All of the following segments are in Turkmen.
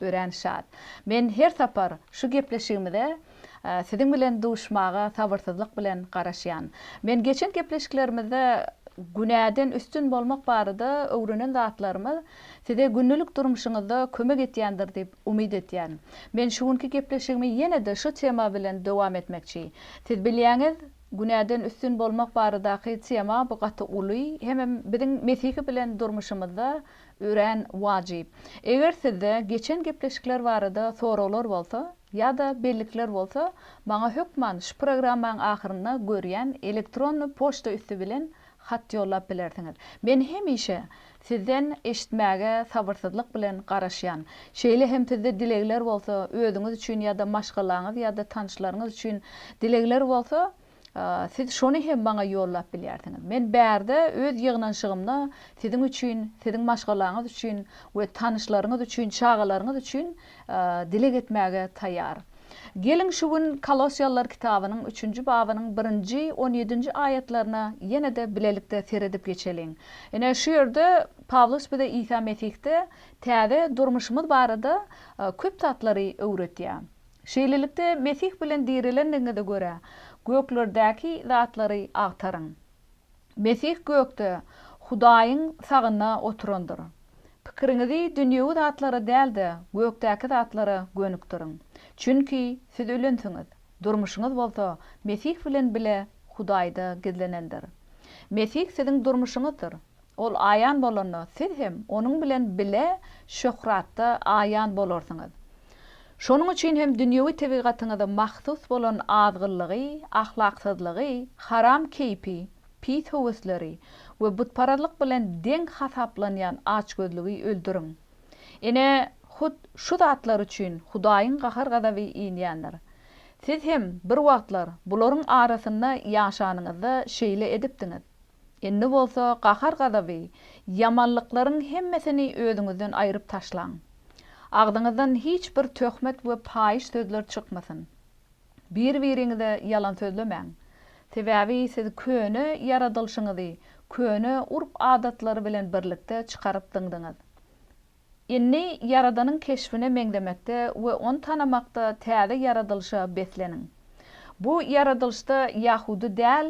Örän şat. Men her sapar şu gepleşigimize Siziň bilen duşmaga sabyrsyzlyk bilen garaşýan. Men geçen gepleşiklerimizde günäden üstün bolmak barada öwrenen zatlarymyz Size gündelik durmuşyňyzda kömek etýändir diýip umyt etýän. Men şu günki gepleşigimi ýene-de şu tema bilen dowam etmekçi. Siz bilýäňiz, günäden üstün bolmak baradaky tema bu gaty uly hemem biziň Mesihi bilen durmuşymyzda Örän wajyp. Eger sizde geçen gepleşikler barada soraglar bolsa ýa-da bellikler bolsa, maňa hökman şu programmaň ahyrynda görýän elektronny poçta üsti bilen hat ýollap bilersiňiz. Men hemişe sizden eşitmäge sabyrsyzlyk bilen garaşýan. Şeýle hem sizde dilegler bolsa, özüňiz üçin ýa-da maşgalaňyz ýa-da tanyşlaryňyz üçin dilegler bolsa, Siz şony hem maňa ýollap bilýärsiňiz. Men bärde öz ýygnanyşygymda siziň üçin, siziň maşgalaňyz üçin we tanyşlaryňyz üçin, çagalaryňyz üçin dileg etmäge taýýar. Geliň, şu gün Kolossiýalylar kitabynyň üçünji babynyň birinji on ýedinji aýatlaryna ýene-de bilelikde seredip geçeliň. Ine, şu ýerde Pawlus bize Isa Mesihde täze durmuşymyz barada köp zatlary öwretýär. Şeýlelikde, Mesih bilen dirilendigiňize görä, göklerdäki zatlary agtaryň. Mesih gökde Hudaýyň sagynda oturandyr. Pikiriňizi dünýewi zatlara däl-de, gökdäki zatlara gönükdiriň. Çünki siz ölensiňiz, durmuşyňyz bolsa Mesih bilen bile Hudaýda gizlenendir. Mesih siziň durmuşyňyzdyr. Ol aýan bolanda, siz hem onuň bilen bile şöhratda aýan bolarsyňyz. Şonuň üçin hem dünýewi tebigatyňyza mahsus bolan azgynlygy, ahlaksyzlygy, haram keýpi, pis höwesleri we butparazlyk bilen deň hasaplanýan açgözlügi öldüriň. Ine, hut şu zatlar üçin Hudaýyň gahar-gazaby inýändir. Siz hem bir wagtlar bularyň arasynda ýaşanyňyzda şeýle edipdiňiz. Indi bolsa gahar-gazaby, ýamanlyklaryň hemmesini özüňizden aýryp taşlaň. Agzyňyzdan hiç bir töhmet we paýyş sözler çykmasyn. Bir-biriňize ýalan sözlemäň. Sebäbi siz köne ýaradylyşyňyzy köne urp-adatlary bilen birlikde çykaryp zyňdyňyz. Indi Ýaradanyň keşbine meňzemekde we ony tanamakda täze ýaradylyşa besleniň. Bu ýaradylyşda ýahudy däl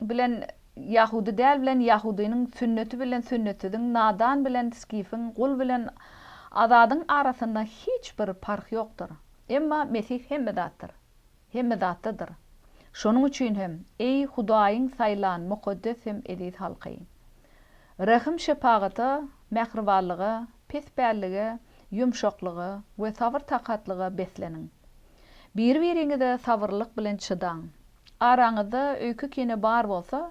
bilen ýahudy däl bilen ýahudynyň, sünneti bilen sünnetsiziň, nadan bilen skifiň, gul bilen azadyň arasynda hiç bir parh ýokdur. Emma Mesih hemme zatdyr. Hemme zatdadyr. Şonuň üçin hem, eý, Hudaýyň saýlan mukaddes hem eziz halky! Rehim-şepagata, mähribanlyga, pespällige, ýumşaklyga we sabyr-takatlyga besleniň. Biri-biriňize sabyrlylyk bilen çydaň. Araňyzda öýke-kine bar bolsa,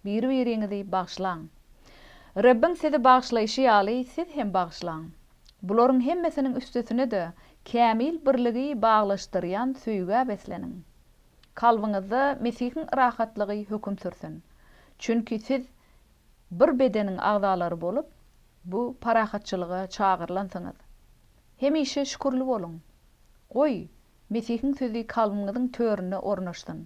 biri-biriňizi bagyşlaň. Rebbiň sizi bagyşlaýşy ýaly, siz hem bagyşlaň. Bularyň hemmesiniň üstesine-de kämil birligi baglaşdyrýan söýgä besleniň. Kalbyňyzda Mesihiň yrahatlygy höküm sürsün. Çünki siz bir bedeniň agzalary bolup, bu parahatçylyga çagyrylansyňyz. Hemişe şükürli boluň. Goý, Mesihiň sözi kalbyňyzyň törüne ornaşsyn.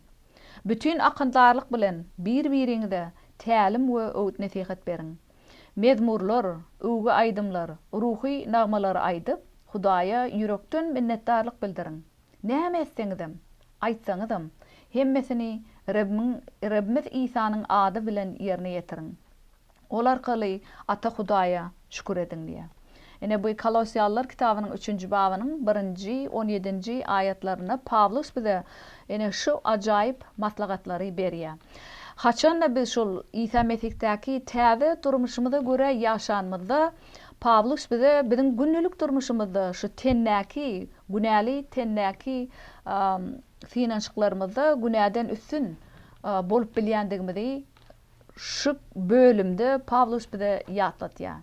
Bütin akyldarlyk bilen bir-biriňize tälim we öwüt-nesihat beriň. Mezmurlar, öwgi aýdymlar, ruhy nagmalary aýdyp, Hudaýa ýürekden minnetdarlyk bildiriň. Näme etseňizem, aýtsaňyzam, hemmesini Rebbiň Rebbimiz Isanyň ady bilen ýerine ýetiriň. Ol arkaly Ata Hudaýa şükür ediň diýýär. Ine, bu Kolosýalylar kitabynyň üçünji babynyň birinji, on ýedinji aýatlarynda Pawlus bize ine şu ajaýyp maslahatlary berýär. Haçan-da biz şol Isa Mesihdaky täze durmuşymyza görä ýaşanymyzda, Pawlus bize biziň gündelik durmuşymyzda şu tendäki, günäli tendäki synanyşyklarymyzda günäden üstün bolup bilýändigimizi Şu bölümde Pawlus bize ýatlatýar.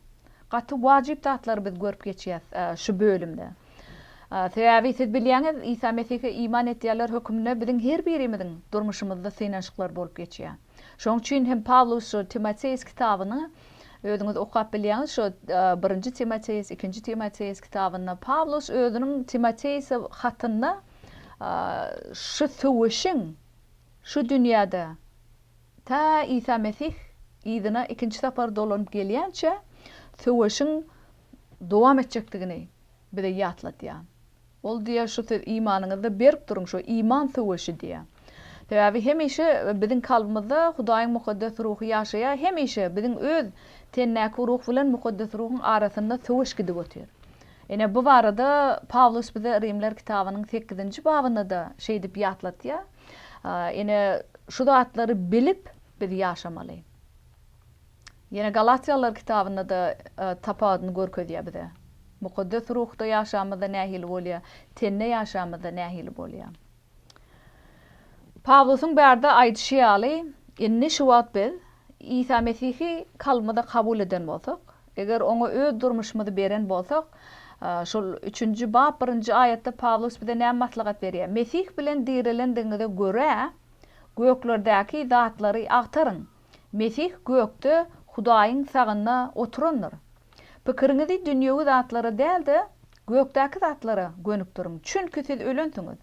Gaty wajyp zatlary biz görüp geçýäs şu bölümde. Sebäbi siz bilýäňiz, Isa Mesihe iman edýänler hökmünde biziň her birimiziň durmuşymyzda synanyşyklar bolup geçýär. Şonuň üçin hem Pawlus şu Timoteus kitabyny özüňiz okap bilýäňiz, şu Birinji Timoteus, Ikinji Timoteus kitabynda Pawlus özüniň Timoteusa hatynda şu söweşiň şu dünýäde Ta Isa Mesih yzyna ikinji sapar dolanyp gelýänçä söweşiň dowam etjekdigini bize ýatladýar. Ol diýýär, Şu söz imanyňyzda berk duruň, şu iman söweşi diýýär. Sebäbi hemişe biziň kalbymyzda Hudaýyň mukaddes ruhy ýaşaýar, hemişe biziň öz tendäki ruh bilen mukaddes ruhuň arasynda söweş gidip otyr. Ine, bu barada Pawlus bize Rimler kitabynyň sekizinji babynda-da şeýdip ýatladýar, Ine, şu zatlary bilip biz ýaşamaly. Ýene Galatýalylar kitabynda-da e, tapawudyny görkezýär bize. Mukaddes ruhda ýaşamyzda nähili bolýar, tende ýaşamyzda nähili bolýar. Pawlusyň bärde aýdyşy ýaly, indi şu wagt biz Isa Mesihi kalbymyzda kabul eden bolsak, Eger oňa öz durmuşymyzy beren bolsak, şol üçünji bap birinji aýatda Pawlus bize näme maslahat berýär? Mesih bilen direlendigiňize görä, göklerdäki zatlary agtaryň. Mesih gökde Hudaýyň sagynda oturandyr. Pikiriňizi dünýewi zatlara däl-de, gökdäki zatlara gönükdiriň, çünki siz ölensiňiz.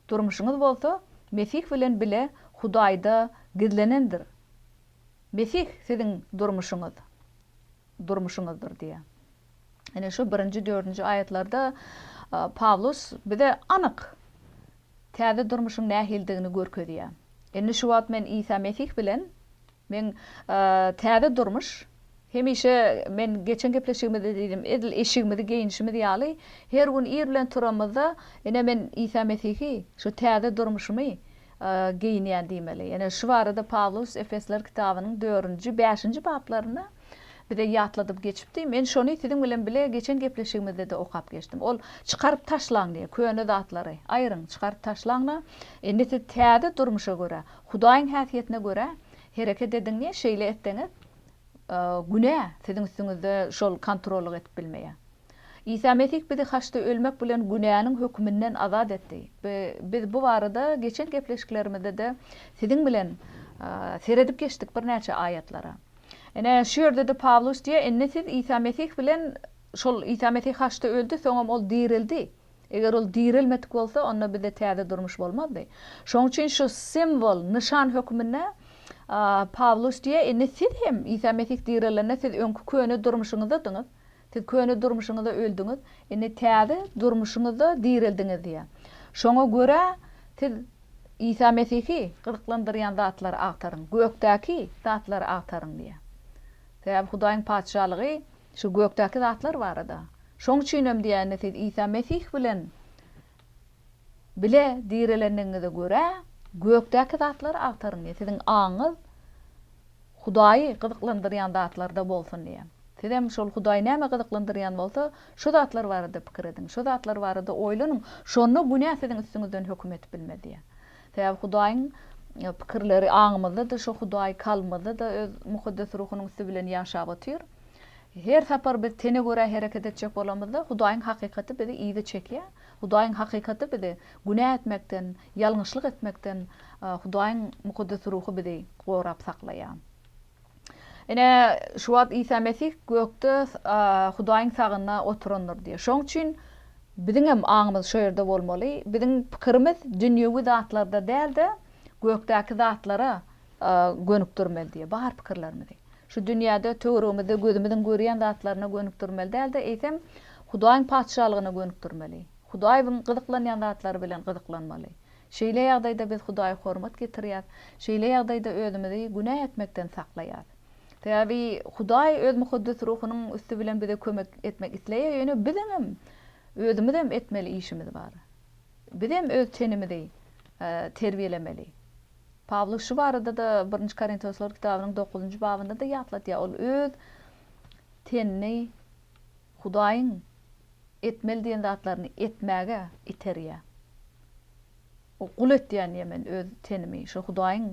Durmuşyňyz bolsa Mesih bilen bile Hudaýda gizlenendir. Mesih siziň durmuşyňyz, durmuşyňyzdyr diýýär. Ine şu birinji, dördünji aýatlarda Pawlus bize anyk täze durmuşyň nähilidigini görkezýär. Indi şu wagt men Isa Mesih bilen, men täze durmuş, Hemişe men geçen gepleşigimizde diýdim, edil eşigimizi geýinişimiz ýaly, her gün ir bilen turanymyzda, ine men Isa Mesihi, şu täze durmuşymy geýinýän diýmeli. Ýene şu barada Pawlus Efesler kitabynyň dördünji, bäşinji bablarynda bize ýatladyp geçipdi. Men şony siziň bilen bile geçen gepleşigimizde-de okap geçdim. Ol, Çykaryp taşlaň diýýär, köne zatlary. Aýryň, çykaryp taşlaň-da, indi siz täze durmuşa görä, Hudaýyň häsiýetine görä hereket ediň diýýär. Şeýle etseňiz, günä siziň üstüňizde şol kontrollyk edip bilmeýä. Isa Mesih bizi haçda ölmek bilen günäniň höküminden azat etdi. Biz bu barada geçen gepleşiklerimizde-de siziň bilen seredip geçdik birnäçe aýatlara. Ine, şu ýerde-de Pawlus diýýär, indi siz Isa Mesih bilen şol Isa Mesih haçda öldi, soňam ol direldi. Eger ol direlmedik bolsa, onda bizde täze durmuş bolmazdy. Şonuň üçin şu simwol, nyşan hökmünde Pawlus diýýär, Indi siz hem, Isa Mesih direlende, siz öňki köne durmuşyňyzdadyňyz. Siz köne durmuşyňyza öldüňiz, indi täze durmuşyňyzda direldiňiz diýýär. Şoňa görä, siz Isa Mesihi gyzyklandyrýan zatlary agtaryň, gökdäki zatlary agtaryň diýýär. Sebäbi Hudaýyň Patyşalygy Şu gökdäki zatlar barada. Şoň üçinem diýende siz Isa Mesih bilen bile direlendigiňize görä, gökdäki zatlary agtaryň diýýär. Siziň aňyňyz Hudaýy gyzyklandyrýan zatlarda bolsun diýýär. Sizem şol Hudaýy näme gyzyklandyrýan bolsa, şo zatlar barada pikir ediň, şo zatlar barada oýlanyň, şonda günä siziň üstüňizden höküm edip bilmez diýýär. Sebäbi Hudaýyň pikirleri aňymyzda-da, şo Hudaý kalbymyzda-da Öz Mukaddes Ruhunyň üsti bilen ýaşap otyr. Her sapar biz tene görä hereket etjek bolamyzda, Hudaýyň hakykaty bizi yza çekýär. Hudaýyň hakykaty bizi günä etmekden, ýalňyşlyk etmekden Hudaýyň Mukaddes Ruhy bizi gorap saklaýar. Ine, şu wagt Isa Mesih gökde Hudaýyň sagynda oturandyr diýýär. Şonuň üçin biziň hem aňymyz şo ýerde bolmaly. Biziň pikirimiz dünýewi zatlarda däl-de, gökdäki zatlara gönükdirmeli diýýär bar pikirlerimizi. Şu dünýäde, töweregimizde gözümiziň görýän zatlaryna gönükdirmeli däl-de, eýsem, Hudaýyň Patyşalygyna gönükdirmeli. Hudaýyň gyzyklanýan zatlary bilen gyzyklanmaly. Şeýle ýagdaýda biz Hudaýa hormat getirýäris. Şeýle ýagdaýda özümizi günä etmekden saklaýarys. Sebäbi Hudaý öz mukaddes ruhunyň üsti bilen bize kömek etmek isleýär, ýöne biziňem özümizem etmeli işimiz bar. Bizem öz tenimizi terbiýelemeli. Pawlus şu barada-da Birinji Korintoslar kitabynyň dokuzynjy babynda-da ýatladýar, ol öz tenini Hudaýyň etmeli diýen zatlaryny etmäge iterýär. O gul etýän ýemen öz tenimi, şo Hudaýyň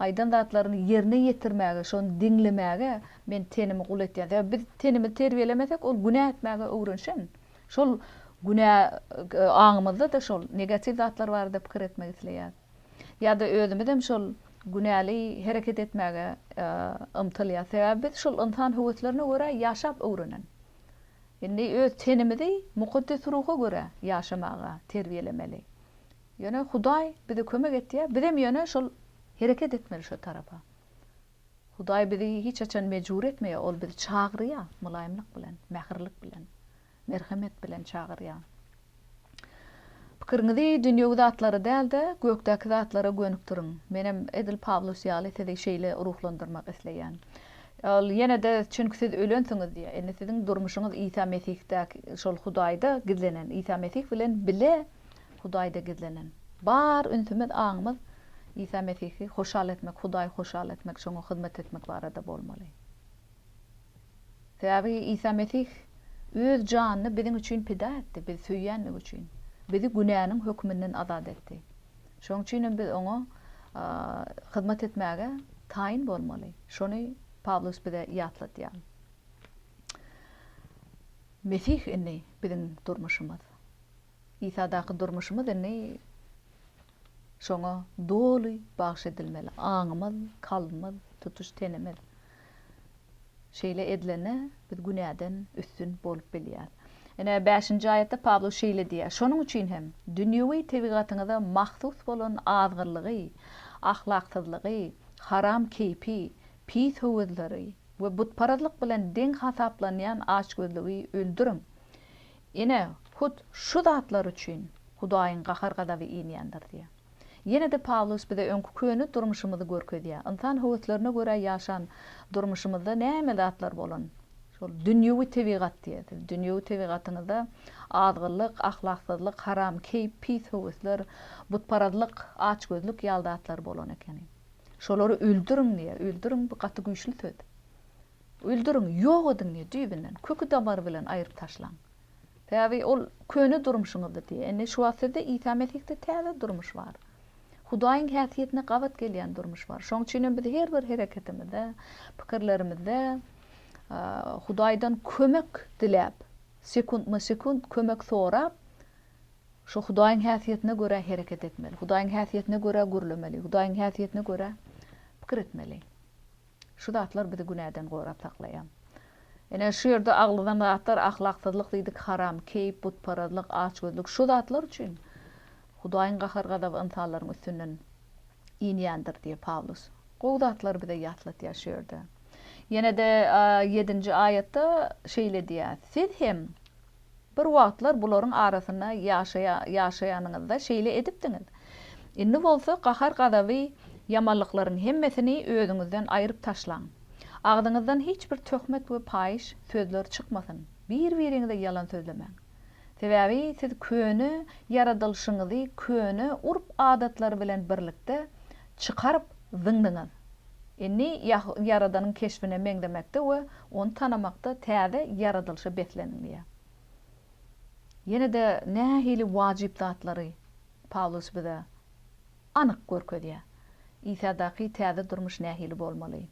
aýdan zatlaryny ýerine ýetirmäge, şony diňlemäge men tenimi gul etýän. Sebäbi biz tenimizi terbiýelemesek, ol günä etmäge öwrenşen. Şol günä aňymyzda-da şol negatiw zatlar barada pikir etmek isleýär. Ýa-da özümizem şol günäli hereket etmäge ymtylýas. Sebäbi biz şol ynsan höweslerine görä ýaşap öwrenen. Indi öz tenimizi Mukaddes Ruha görä ýaşamaga terbiýelemeli. Ýöne Hudaý bize kömek etýär, bizem ýöne şol hereket etmeli şo tarapa. Hudaý bizi hiç haçan mejbur etmeýär, ol bizi çagyrýar mylaýymlyk bilen, mähirlik bilen. Merhemet bilen çagyrýan. Pikiriňizi dünýewi zatlara däl-de, gökdäki zatlara gönükdiriň. Menem edil Pawlus ýaly sizi şeýle ruhlandyrmak isleýän. Ol ýene-de çünki siz ölensiňiz diýýär. Indi siziň durmuşyňyz Isa Mesihdäki şol Hudaýda gizlenen, Isa Mesih bilen bile Hudaýda gizlenen. Bar ünsümiz, aňymyz Isa Mesihi hoşal etmek, Hudaýy hoşal etmek, şoňa hyzmat etmek barada bolmaly. Sebäbi Isa Mesih Öz janyny biziň üçin pida etdi, bizi söýýänligi üçin. Bizi günäniň höküminden azat etdi. Şonuň üçin hem biz Oňa hyzmat etmäge taýyn bolmaly. Şony Pawlus bize ýatladýar. Mesih indi biziň durmuşymyz. Isadaky durmuşymyz indi Şoňa doly bagyş edilmeli, aňymyz, kalbymyz, tutuş tenimiz. Şeýle edilende biz günäden üstün bolup bilýäris. Ine, bäşinji aýatda Pawlus şeýle diýýär, Şonuň üçin hem, dünýewi tebigatyňyza mahsus bolan azgyrlygy, ahlaksyzlygy, haram keýpi, pis höwesleri we butparazlyk bilen deň hasaplanýan açgözlügi öldüriň. Ine, hut şu zatlar üçin Hudaýyň gahar-gazaby inýändir diýýär. Ýene-de Pawlus bize öňki köne durmuşymyzy görkezýär. Ynsan höweslerine görä ýaşan durmuşymyzda näme zatlar bolan? Şol dünýewi tebigat diýýär. Siz dünýewi tebigatyňyzda azgynlyk, ahlaksyzlyk, haram keýp, pis höwesler, butparazlyk, açgözlük ýaly zatlar bolan ekeni. Şolary öldüriň diýýär. Öldüriň, bu gaty güýçli söz. Öldüriň, ýok ediň diýýär düýbünden. Köki-damary bilen aýryp taşlaň. Sebäbi ol köne durmuşyňyzdy diýýär. Indi şu wagt sizde Isa Mesihde täze durmuş bar. Hudaýyň häsiýetine gabat gelýän durmuş bar. Şoň üçin hem biz her bir hereketimizde, pikirlerimizde Hudaýdan kömek diläp, sekuntma-sekunt kömek sorap, şu Hudaýyň häsiýetine görä hereket etmeli. Hudaýyň häsiýetine görä gürlemeli. Hudaýyň häsiýetine görä pikir etmeli. Şu zatlar bizi günäden gorap saklaýar. Ine, şu ýerde agladan zatlar ahlaksyzlyk diýdik, haram, keýp, butparazlyk, açgözlük, şu zatlar üçin Hudaýyň gahar-gazaby ynsanlaryň üstünden inýändir diýip, Pawlus gowy zatlary bize ýatlatýar şu ýerde. Ýene-de ýedinji aýatda şeýle diýýär, Siz hem Bir wagtlar bularyň arasynda ýaşaýanyňyzda şeýle edipdiňiz. Indi bolsa gahar-gazaby, ýamanlyklaryň hemmesini özüňizden aýryp taşlaň. Agzyňyzdan hiç bir töhmet we paýyş sözler çykmasyn. Bir-biriňize ýalan sözlemäň. Sebäbi siz köne ýaradylyşyňyzy köne urp-adatlary bilen birlikde çykaryp zyňdyňyz. Indi Ýaradanyň keşbine meňzemekde we Ony tanamakda täze ýaradylyşa besleniň diýýär. Ýene-de nähili wajyp zatlary Pawlus bize anyk görkezýär? Isadaky täze durmuş nähili bolmaly?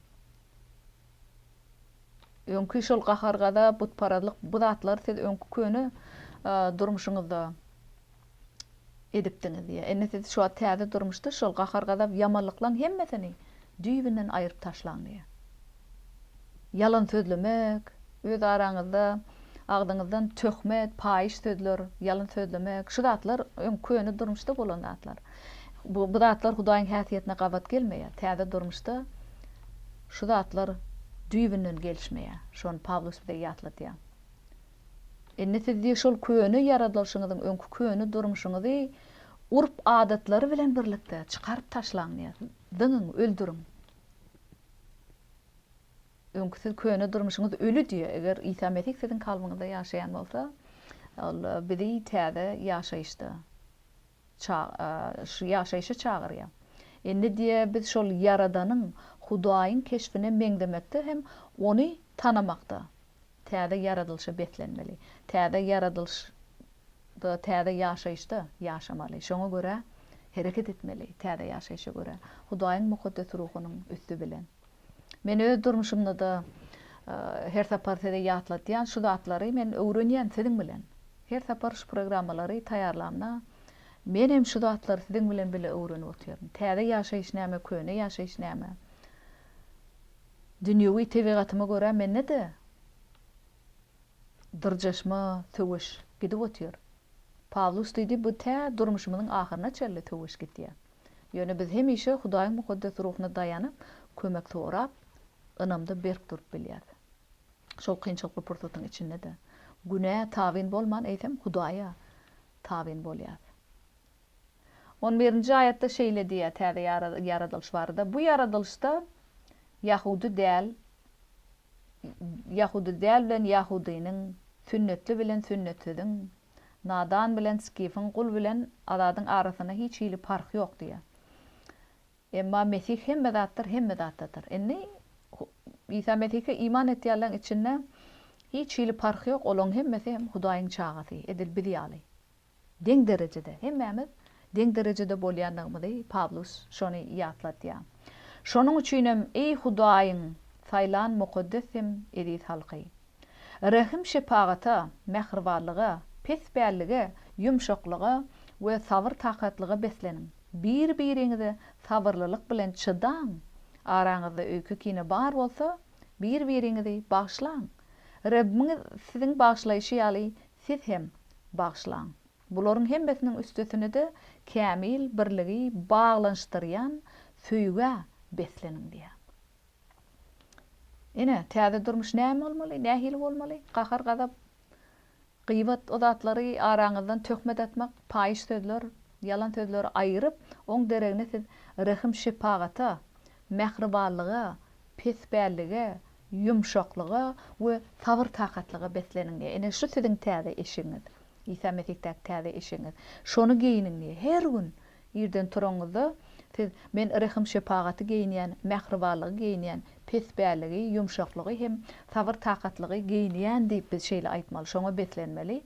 Öňki şol gahar-gazap, butparazlyk, bu zatlar siz öňki köne durmuşyňyzda edipdiňiz diýýär. Indi siz şu wagt täze durmuşda şol gahar-gazap, ýamanlyklaň hemmesini düýbünden aýryp taşlaň diýýär. Ýalan sözlemek, öz araňyzda agzyňyzdan töhmet, paýyş sözler, ýalan sözlemek, şu zatlar öň köne durmuşda bolan zatlar. Bu zatlar Hudaýyň häsiýetine gabat gelmeýär. Täze durmuşda şu zatlar düýbünden gelişmeýär. Şony Pawlus bize ýatladýar. Indi siz diýip şol köne ýaradylyşyňyzyň öňki köne durmuşyňyzy urp adatlary bilen birlikde çykaryp taşlaň diýýär. Zyňyň, öldüriň. Öňki siz köne durmuşyňyz öli diýýär. Eger Isa Mesih siziň kalbyňyzda ýaşaýan bolsa, ol bizi täze ýaşaýyşda ça şu ýaşaýşa çagyrýar. Indi diýýär biz şol Ýaradanyň, Hudaýyň keşbine meňzemekde hem ony tanamakda. Täze ýaradylyşa beslenmeli. Täze ýaradylyşda, täze ýaşaýyşda ýaşamaly. Şoňa görä hereket etmeli, täze ýaşaýşa görä. Hudaýyň mukaddes ruhunyň üsti bilen. Men öz durmuşymda-da her sapar size ýatladýan şu zatlary men öwrenýän siziň bilen. Her sapar şu programmalary taýýarlamda men hem şu zatlary siziň bilen bile öwrenip otyryn. Täze ýaşaýyş näme, köne ýaşaýyş näme? Dünýewi tebigatyma görä mende-de dyrjaşma, söweş gidip otyr. Pawlus diýdi, bu tä durmuşymyzyň ahyryna çenli söweş gidýär. Ýöne biz hemişe Hudaýyň mukaddes ruhuna daýanyp, kömek sorap, ynamda berk durup bilýäris. Şol kynçylykly pursatyň içinde-de günä tabyn bolman, eýsem, Hudaýa tabyn bolýarys. On birinji aýatda şeýle diýýär täze ýaradylyş barada, Bu ýaradylyşda ýahudy däl ýahudy däl bilen ýahudynyň, sünnetli bilen sünnetsiziň, nadan bilen skifiň, gul bilen azadyň arasynda hiç hili parh ýok diýýär. Emma Mesih hemme zatdyr, hemme zatdadyr. Indi Isa Mesihe iman etýänleriň içinde hiç hili parh ýok, olaryň hemmesi hem Hudaýyň çagasy, edil biz ýaly. Deň derejede, hemmämiz deň derejede bolýandygymyzy Pawlus şony ýatladýar. Şonuň üçinem, eý Hudaýyň saýlan mukaddes hem eziz halky! Rehim-şepagata, mähribanlyga, pespällige, ýumşaklyga we sabyr-takatlyga besleniň. Bir-biriňize sabyrlylyk bilen çydaň. Araňyzda öýke-kine bar bolsa, bir-biriňizi bagyşlaň. Rebbiňiz siziň bagyşlaýşy ýaly Siz hem, bagyşlaň. Bularyň hemmesiniň üstesine-de kämil birligi baglanyşdyrýan söýgä besleniň diýýär. Ine, täze durmuş näme bolmaly, nähili bolmaly? Gahar-gazap, gyýbat, o zatlary araňyzdan töhmet atmak, paýyş sözler, ýalan sözleri aýyryp, oň deregine siz rehim-şepagata, mähribanlyga, pespällige, Ýumşaklyga we sabyr-takatlyga besleniň diýýär. Ine, şu siziň täze eşigiňiz. Isa Mesihdaky täze eşigiňiz. Şony geýniň diýýär. Her gün irden turanyňyzda siz, Men rehim-şepagaty geýinýän, mähribanlygy geýinýän, pespälligi, ýumşaklygy hem sabyr-takatlygy geýinýän diýip biz şeýle aýtmaly, şoňa beslenmeli.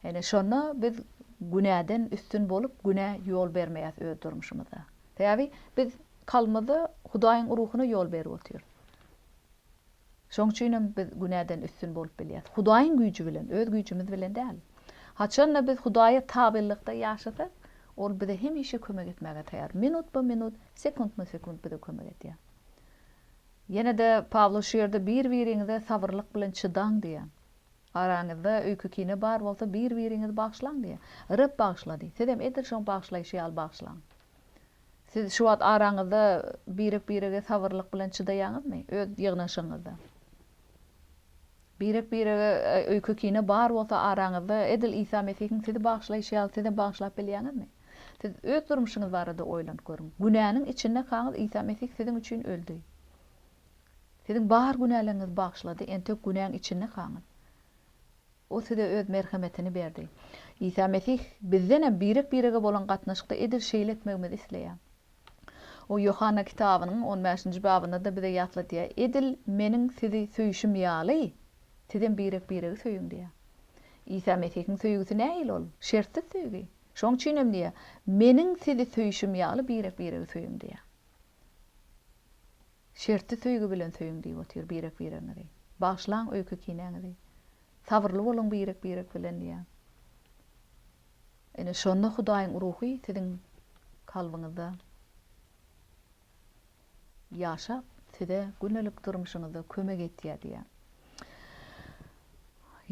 Ine, şonda biz günäden üstün bolup, günä ýol bermeýäs öz durmuşymyzda. Sebäbi biz kalbymyzda Hudaýyň Ruhuna ýol berip otyrys. Şoň üçinem biz günäden üstün bolup bilýäris. Hudaýyň güýji bilen, öz güýjümiz bilen däl. Haçan-da biz Hudaýa tabynlykda ýaşasak, Ol bize hemişe kömek etmäge taýýar. Minutma-minut, sekuntma-sekunt bize kömek edýär. Ýene-de Pawlus şu ýerde bir-biriňize sabyrlyk bilen çydaň diýýär. Araňyzda öýke-kine bar bolsa, bir-biriňizi bagyşlaň diýýär. Reb bagyşlady. Sizem edil şoň bagyşlaýşy ýaly bagyşlaň. Siz şu wagt araňyzda birek-birege sabyrlyk bilen çydaýaňyzmy, öz ýygnaşygyňyzda? Birek-birege öýke-kine bar bolsa araňyzda, edil Isa Mesihiň sizi bagyşlaýşy ýaly siz hem bagyşlap bilýäňizmi? Siz öz durmuşyňyz barada oýlanyp görüň. Günäniň içindekaňyz Isa Mesih siziň üçin öldi. Siziň bar günäleriňizi bagyşlady, entek günäň içindekaňyz. Ol size Öz merhemetini berdi. Isa Mesih bizden hem birek-birege bolan gatnaşykda edil şeýle etmegimizi isleýär. Ol Ýohanna kitabynyň on bäşinji babynda-da bize ýatladýar, Edil Meniň sizi söýşüm ýaly, sizem birek-biregi söýüň diýýär. Isa Mesihiň söýgüsi nähili ol? Şertsiz söýgi. Şonuň üçin hem diýýär, Meniň sizi söýşüm ýaly birek-biregi söýüň diýýär. Şerti söýgi bilen söýüň diýip otyr birek biregiňizi. Bagyşlaň öýke kinäňizi. Sabyrly boluň birek birek bilen diýýär. Ine şonda Hudaýyň Ruhy siziň kalbyňyzda ýaşap size günelik durmuşyňyzda kömek etýär diýýär.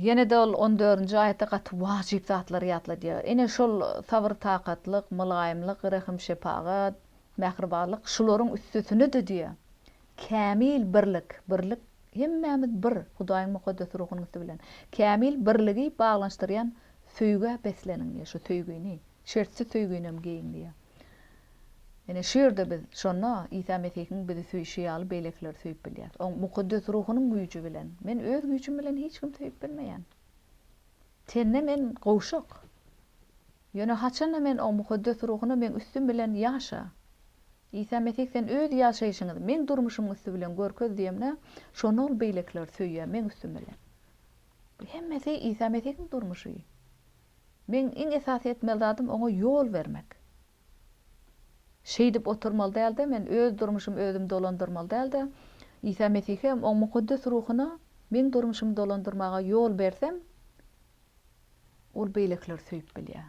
Ýenede ol on dördünji aýatda gaty wajyp zatlary ýatladýar. Ine şol sabyr-takatlyk, mylaýymlyk, rehim-şepagat, Mähribanlyk şularyň üstesine-de diýýär. Kämil birlik, birlik, hemmämiz bir, Hudaýyň Mukaddes Ruhunyň üsti bilen. Kämil birligi baglanyşdyrýan söýgä besleniň diýýär. Şu söýgini, şertsiz söýginem geýiň diýýär. Ine, şu ýerde biz şonda Isa Mesihiň bizi söýşi ýaly beýlekileri söýüp bilýäris. Oň Mukaddes Ruhunyň güýji bilen. Men öz güýjüm bilen hiç kimi söýüp bilmeýän. Sende men gowşak. Ýöne haçan-da men Oň Mukaddes Ruhuna meň üstüm bilen ýaşa. Isa Mesih sen öz ýaşaýşyňyzy meň durmuşymyň üsti bilen görkez diýemde, şonda ol beýlekileri söýýär meň üstüm bilen. Bu hemmesi Isa Mesihiň durmuşy. Meň iň esasy etmeli zadym Oňa ýol bermek. Şeýdip oturmaly däl-de, men öz durmuşymy özüm dolandyrmaly däl-de, Isa Mesihe, Oň Mukaddes Ruhuna meň durmuşymy dolandyrmaga ýol bersem, Ol beýlekileri söýüp bilýär.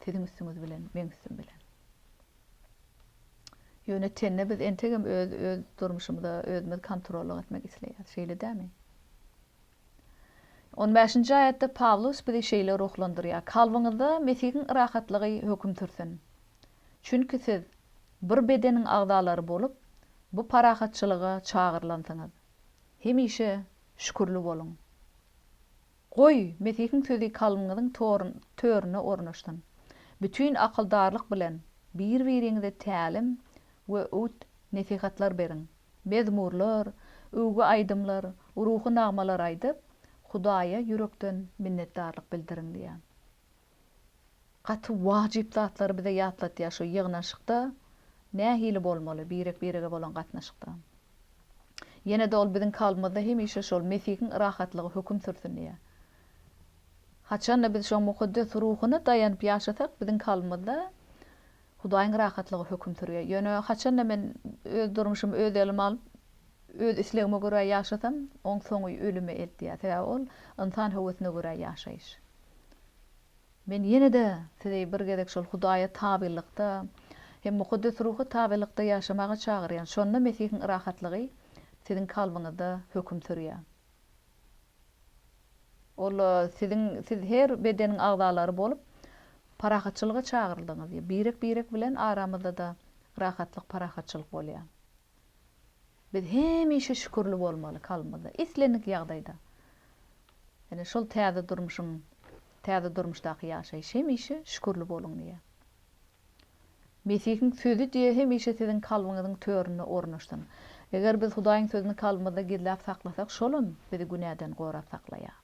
Siziň üstüňiz bilen, meň üstüm bilen. Ýöne tende biz entegem öz öz durmuşymyza özümiz kontrollyk etmek isleýäris. Şeýle dämi? On bäşinji aýatda Pawlus bizi şeýle ruhlandyrýar, Kalbyňyzda Mesihiň rahatlygy höküm sürsün. Çünki siz bir bedeniň agzalary bolup, bu parahatçylyga çagyrylansyňyz. Hemişe şükürli boluň. Goý, Mesihiň sözi kalbyňyzyň törüne ornaşsyn. Bütin akyldarlyk bilen bir-biriňize tälim we öwüt-nesihatlar beriň. Mezmurlar, öwgi aýdymlar, ruhy nagmalar aýdyp, Hudaýa ýürekden minnetdarlyk bildiriň diýýär. Gaty wajyp zatlary bize ýatlatýar şu ýygnanyşykda nähili bolmaly birek birege bolan gatnaşykda. Ýene-de ol biziň kalbymyzda hemişe şol Mesihiň rahatlygy höküm sürsün diýýär. Haçan-da biz şoň Mukaddes Ruhuna daýanyp ýaşasak biziň kalbymyzda Hudaýyň rahatlygy höküm sürýär. Ýöne haçan-da men öz durmuşymy öz elime alyp, öz islegime görä ýaşasam, oň soňy ölüme eltýär. Sebäbi ol ynsan höwesine görä ýaşaýyş. Men ýene-de sizi bir gezek şol Hudaýa tabylykda hem Mukaddes Ruha tabylykda ýaşamaga çagyrýan. Şonda Mesihiň rahatlygy siziň kalbyňyzda höküm sürýär. Ol siziň, siz her bedeniň agzalary bolup, parahatçylyga çagyryldyňyz. Birek-birek bilen aramyzda-da rahatlyk, parahatçylyk bolýar. Biz hemişe şükürli bolmaly kalbymyzda, islendik ýagdaýda. Ýöne şol täze durmuşyň, täze durmuşdaky ýaşaýyş hemişe şükürli boluň diýýär. Mesihiň Sözi diýe hemişe siziň kalbyňyzyň töründe ornaşsyn. Eger biz Hudaýyň Sözüni kalbymyzda gizläp saklasak, Şolam bizi günäden gorap saklaýar.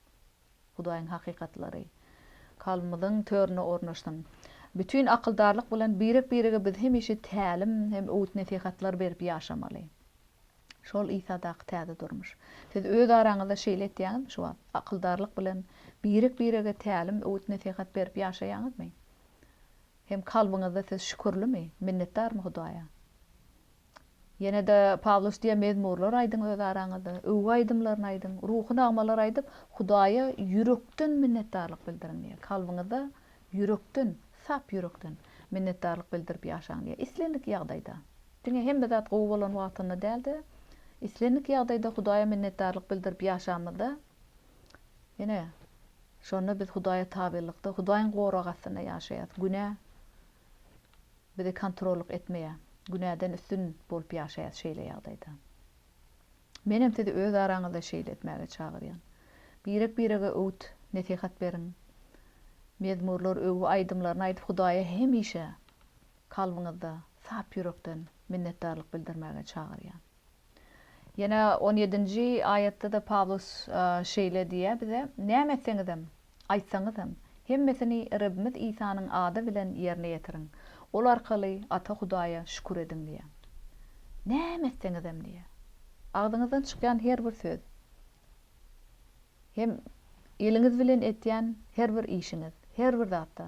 Hudaýyň hakykatlary kalbymyzyň töründe ornaşsyn. Bütin akyldarlyk bilen birek-birege biz hemişe tälim hem öwüt-nesihatlar berip ýaşamaly. Şol Isadaky täze durmuş. Siz öz araňyzda şeýle etýäňizmi şu wagt? Akyldarlyk bilen birek-birege tälim, öwüt-nesihat berip ýaşaýaňyzmy? hem kalbyňyzda siz şükürlimi, minnetdarmy Hudaýa? Ýene-de Pawlus diýen mezmurlar aýdyň öz araňyzda, öwgi aýdymlaryny aýdyň, ruhy nagmalar aýdyp, Hudaýa ýürekden minnetdarlyk bildiriň diýýär. Kalbyňyzda ýürekden, sap ýürekden minnetdarlyk bildirip ýaşaň diýýär. Islendik ýagdaýda, diňe hemme zat gowy bolan wagtynda däl-de, islendik ýagdaýda Hudaýa minnetdarlyk bildirip ýaşamyzda, Ine, şonda biz Hudaýa tabylykda, Hudaýyň gorag astynda ýaşaýarys. Günä bizi kontrollyk etmeýär. Günäden üstün bolup ýaşaýarys şeýle ýagdaýda. Menem sizi öz araňyzda şeýle etmäge çagyrýan. Birek-birege öwüt, nesihat beriň. Mezmurlar, öwgi aýdymlaryny aýdyp, Hudaýa hemişe kalbyňyzda sap ýürekden minnetdarlyk bildirmäge çagyrýan. Ýene on ýedinji aýatda-da Pawlus şeýle diýýär bize, Näme etseňizem, aýtsaňyzam, hemmesini Rebimiz Isanyň ady bilen ýerine ýetiriň. Ol arkaly Ata Hudaýa şükür ediň diýýär. Näme etseňizem diýýär. Agzyňyzdan çykýan her bir söz. Hem eliňiz bilen etýän her bir işiňiz, her bir zatda.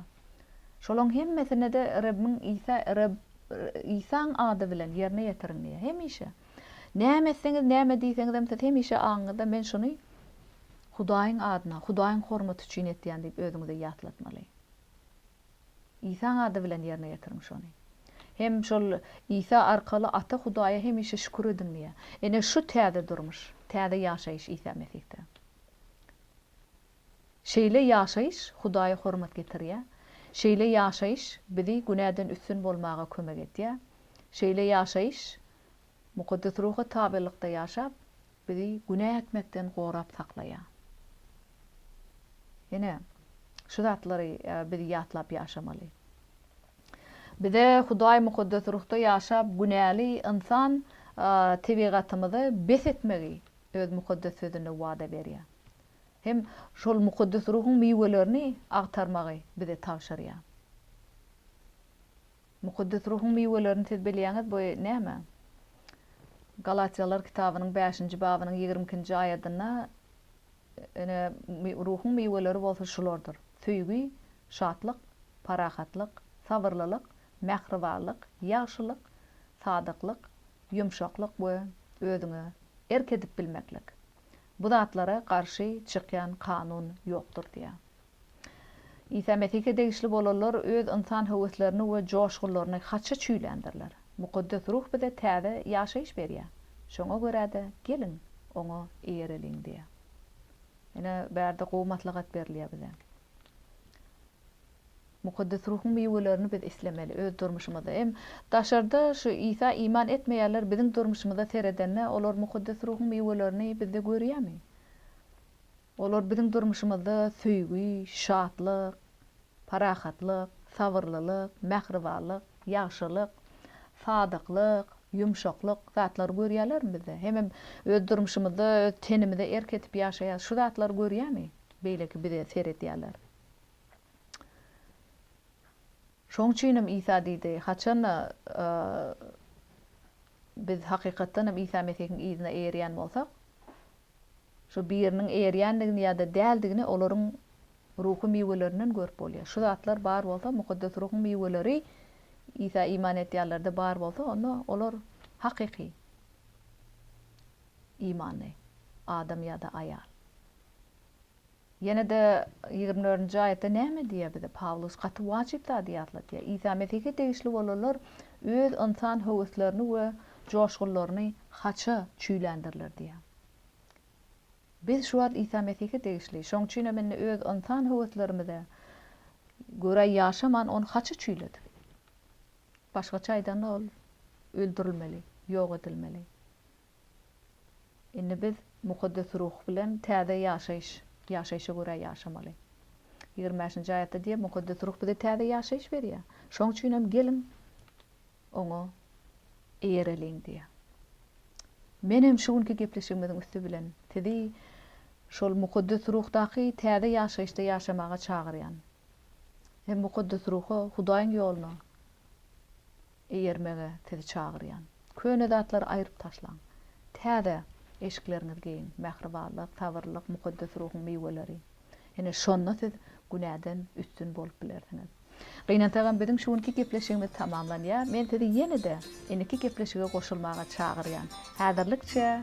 Şolaň hemmesine-de Rebbiň Isa Reb Isaň ady bilen ýerine ýetiriň diýýär. Hemişe. Näme etseňiz, näme diýseňizem siz hemişe aňyňyzda men şuny Hudaýyň adyna, Hudaýyň hormaty üçin etýän diýip özüňize ýatlatmaly. Isaň ady bilen ýerine ýetiriň şony. Hem şol Isa arkaly Ata Hudaýa hemişe şükür ediň diýýär. Ine şu täze durmuş, täze ýaşaýyş Isa Mesihde. Şeýle ýaşaýyş Hudaýa hormat getirýär. Şeýle ýaşaýyş bizi günäden üstün bolmaga kömek edýär. Şeýle ýaşaýyş Mukaddes Ruha tabylykda ýaşap, bizi günä etmekden gorap saklaýar. Ine, şu zatlary biz ýatlap ýaşamaly. Bize Hudaý Mukaddes Ruhda ýaşap, günäli ynsan tebigatymyzy bes etmegi Öz Mukaddes Sözünde wada berýär. Hem şol Mukaddes Ruhuň miwelerini agtarmagy bize tabşyrýar. Mukaddes Ruhuň miwelerini siz bilýäňiz, bu näme? Galatýalylar kitabynyň bäşinji babynyň ýigrimi ikinji aýadynda, Ine, Ruhuň miweleri bolsa şulardyr, söýgi, şatlyk, parahatlyk, sabyrlylyk, mähribanlyk, ýagşylyk, sadyklyk, ýumşaklyk we özüňe erk edip bilmeklik. Bu zatlara garşy çykýan kanun ýokdur diýýär. Isa Mesihe degişli bolanlar öz ynsan höweslerini we joşgunlaryny haça çüýländirler. Mukaddes Ruh bize täze ýaşaýyş berýär. Şoňa görä-de, geliň, Oňa eýereliň diýýär. Ine, bärde gowy maslahat berilýär bize. Mukaddes Ruhuň miwelerini biz islemeli öz durmuşymyzda. Hem daşarda şu Isa iman etmeýänler biziň durmuşymyza seredende, olar Mukaddes Ruhuň miwelerini bizde görýärmi? Olar biziň durmuşymyzda söýgi, şatlyk, parahatlyk, sabyrlylyk, mähribanlyk, ýagşylyk, sadyklyk, ýumşaklyk zatlary görýärlermi bizde? Hemem öz durmuşymyzda öz tenimize erk edip ýaşaýarys. Şu zatlary görýärmi beýleki bize seredýänler? Şonuň üçinem Isa diýdi, haçanda biz hakykatdanam Isa Mesihiň yzyna eýerýän bolsak, Şu biriniň erýändigini ýa-da däldigini olaryň ruhy miwelerinden görüp bolýar. Şu zatlar bar bolsa, Mukaddes Ruhuň miweleri Isa iman edýänlerde bar bolsa, onda olar hakyky imanly adam ýa-da aýal. Ýene-de ýigrimi dördünji aýatda näme diýýär bize Pawlus? Gaty wajyp zady ýatladýar. Isa Mesihe degişli bolanlar öz ynsan höweslerini we joşgunlaryny haça çüýländirler diýýär. Biz şu wagt Isa Mesihe degişli, şonuň üçin hem indi öz ynsan höweslerimize görä ýaşaman, ony haça çüýledik. Başgaça aýdanda, ol öldürilmeli, ýok edilmeli. Indi biz Mukaddes Ruh bilen täze ýaşaýyş, ýaşaýşa görä ýaşamaly. Ýigrimi bäşinji aýatda diýýär, Mukaddes Ruh bize täze ýaşaýyş berýär. Şoň üçin hem geliň, Oňa eýereliň diýýär. Men hem şu günki gepleşigimiziň üsti bilen sizi şol Mukaddes Ruhdaky täze ýaşaýyşda ýaşamaga çagyrýan. Hem Mukaddes Ruha, Hudaýyň ýoluna, Eýermäge sizi çagyrýan. Köne zatlary aýryp taşlaň. Täze eşikleriňizi geýiň. Mähribanlyk, sabyrlylyk, mukaddes ruhuň miweleri. Ine, şonda siz günäden üstün bolup bilersiňiz. Gynansagam biziň şu günki gepleşigimiz tamamlanýar. Men sizi ýene-de indiki gepleşige goşulmaga çagyrýan. Häzirlikçe.